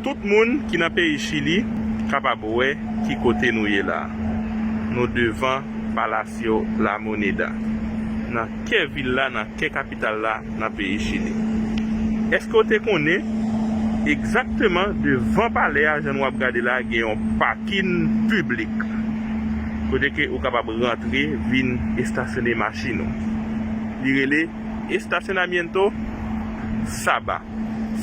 Tout moun ki nan peyi Chili kapab wè ki kote nou ye la. Nou devan Palacio La Moneda, nan kè vil la, nan kè kapital la, nan peyi Chili. Eske w te konnen, egzakteman devan palè a, jan nou ap gade la, gen yon pakin piblik, kote ke ou kapab rantre vin estasyone machin ou. Li rele. Estasyonamiento Saba.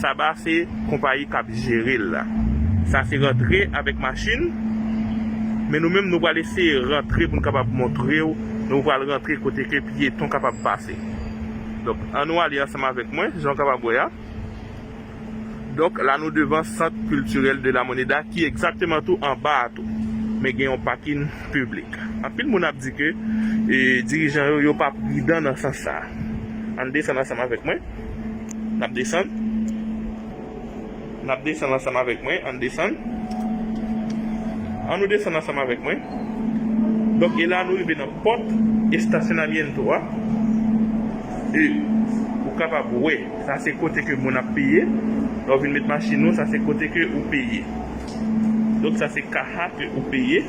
Saba se konpayi k ap jere l la. Sa se rantre avèk machin. Men nou menm nou pral eseye rantre pou n kapab montre w. Nou pral rantre kote ke pyeton kapab pase. Donk, annou ale ansanm avèk mwen, jan w kapab wè a. Donk la nou devan Centre Culturel de la Moneda ki egzakteman tou anba a tou. Men gen yon pakin piblik. Anpil moun ap di ke dirijan yo yo pa pridan nan sans sa. Ann desann ansanm avèk mwen. N ap desann. N ap desann ansanm avèk mwen. Ann desann. An nou desann ansanm avèk mwen. Donk e la nou rive nan pòt estasyonamyento a. E ou kapab wè. Sa se kote ke moun ap peye. Lè ou vin met machin ou, sa se kote ke ou peye. Donk sa se kaha ke ou peye.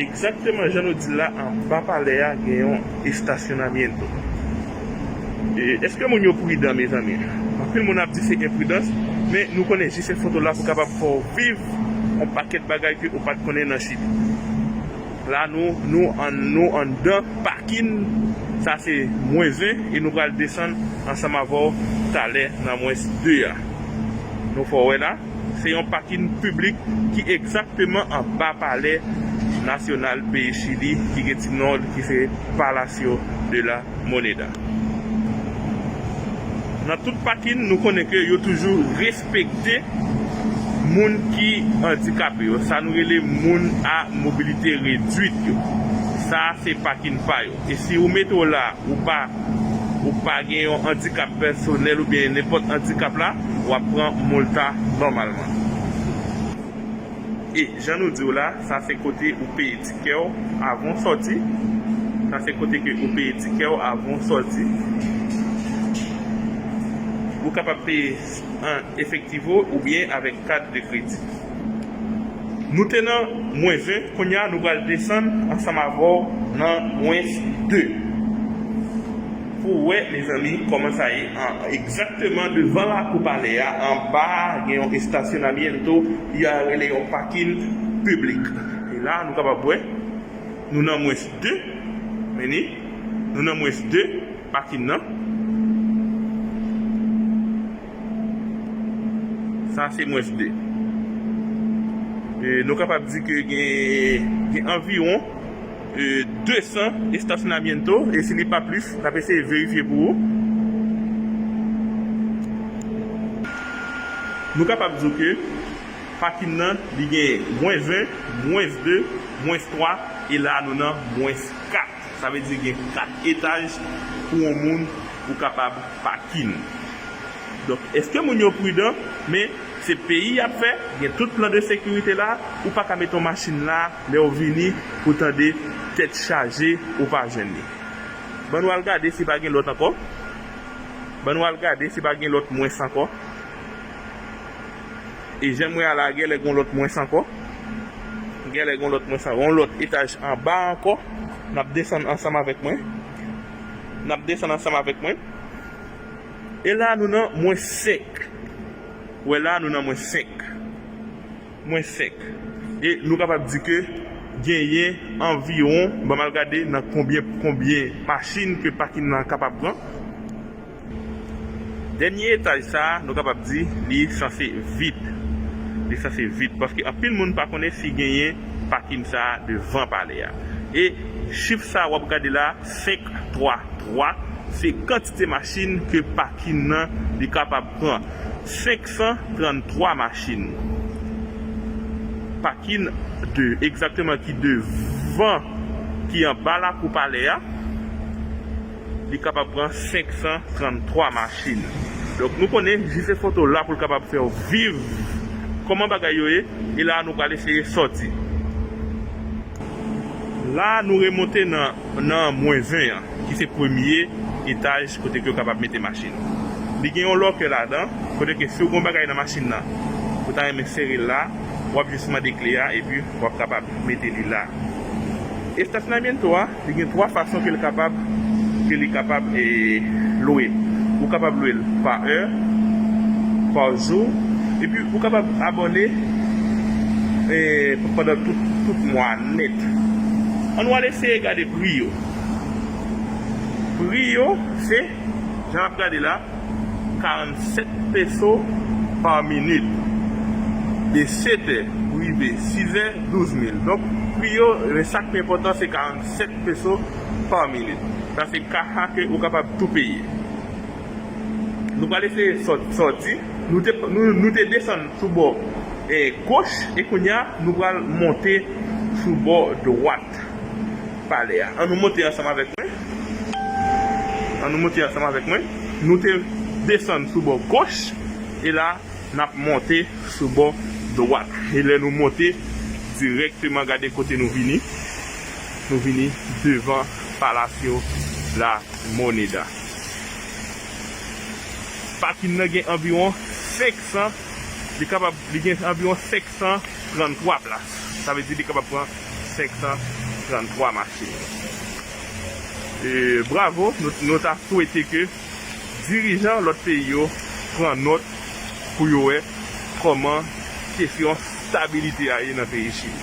Ekzakteman jan nou di l la, anba palè a gen yon estasyonamiento. Eske moun yo pridan mezanmi? Anpil moun ap di se enpridans, men nou konnen jisefo dola pou kapab fè w viv yon pakèt bagay ke ou pa t konnen nan Chili. La nou nou an nou anndan pakin sa se mwens 1 e nou pral desann ansanm avèw talè nan mwens 2 a nou fè w wè la se yon pakin piblik ki egzakteman anba palè nasyonal peyi chili ki gen ti non l ki se Palacio de la Moneda nan tout pakin nou konnen ke yo toujou. Respekte moun ki andikape yo, sa nou rele moun a mobilite redwit yo. Sa a se pakin pa yo. E si yo mete w la, ou pa ou pa gen yon andikap pèsonèl oubyen nenpòt andikap la, w ap pran molta nòmalman. E jan nou di w la, sa se kote ou peye tikè w avan w sòti. Sa se kote ke ou peye tikè w avan w sòti. Ou kapab peye. an efektivo oubyen avèk kat de kredi. Nou te nan mwen 20, kounye a nou pral desann ansanm avè w nan mwens 2 pou w wè mezanmi kòman sa ye an. Egzakteman devan lakou palè a anba a gen yon estasyonamiento y a rele yon pakin piblik. E la a nou kapab wè nou nan mwens 2, meni, nou nan mwens 2. Pa fin nan. Sa se mwens de. Nou kapab di ke gen anviwon 200 estasyonamiento e si li pa plis, n ap eseye verifye pou ou. Nou kapab di w ke pakin nan li gen mwens 1, mwens 2, mwens 3 e la a nou nan mwens 4. Sa vle di gen 4 etaj pou yon moun pou kapab pakin. Donk eske moun yo pridan, men se peyi yap fè, gen tout plan de sekirite la, ou paka mete yon machin la lèw vini pou tande tèt chaje ou pa jwenn li. Ban nou al gade si pa gen lòt ankò, ban nou al gade si pa gen lòt mwens ankò. E janm wè a la gèlè gon lòt mwens ankò. Gèlè gon lòt mwens ankò. Yon lòt etaj anba ankò. Nap desann ansanm avèk mwen. Nap desann ansanm avèk mwen. E la nou nan mwens 5. Ou wè la nou nan mwens 5. Mwens 5. E nou kapab di ke genyen anviwon, banm al gade nan konbyen konbyen machin ke pakin nan kapab pran. Dènye etaj sa a, nou kapab di li sanse vid. Li sanse vid paske anpil moun pa konnen si genyen pakin sa a devan palè a. E chif sa a wap gade la, 5, 3, 3, se kantite machin ke pakin nan li kapab pran. 533 machin pakin de egzakteman ki devan, ki anba lakou palè a. Li kapab pran 533 machin. Donk nou konnen JC Photo la pou l kapab fè w viv kòman bagay yo ye. E la a nou pral eseye sòti. La a nou remonte nan mwen 20 an ki se premye etaj kote ke yo kapab mete machin. Li gen yon lòkè ladan kote ke si w gen yon bagay nan machin nan ou ta renmen sere la, w ap jis mande kle a epi w ap kapab mete li la. Estasyonaymento a Li gen 3 fason ke l kapab ke li kapab lwe. Ou kapab lwe l pa è, pa jou, epi ou kapab abòne pandan tout mwa a nèt. An nou al eseye gade pri yo. Pri yo se, jan n ap gade la. 47 peso pa minit. De 7 è pou rive 6 è, 12 mil. Donk, pri yo, men sa k pi enpòtan se 47 peso pa minit. Sa se ka a ke ou kapab tou peye. Nou pral eseye sòti. Nou te desann sou bò goch e kounye a nou pral monte sou bò dwat. Palè a. An nou monte ansanm avèk mwen. An nou monte ansanm avèk mwen. Nou te desann sou bò goch, e la n ap monte sou bò dwat. E lè nou monte, dirèkteman gade kote nou vini, nou vini devan Palacio La Moneda. Pakin nan gen anviwon 500, li kapab, li gen anviwon 533 plas. Sa vle di li kapab pran 533 machin yo. Bravo, nou ta swete ke dirijan lòt peyi yo pran nòt pou yo wè kòman kesyon stabilite a ye nan peyi Chili.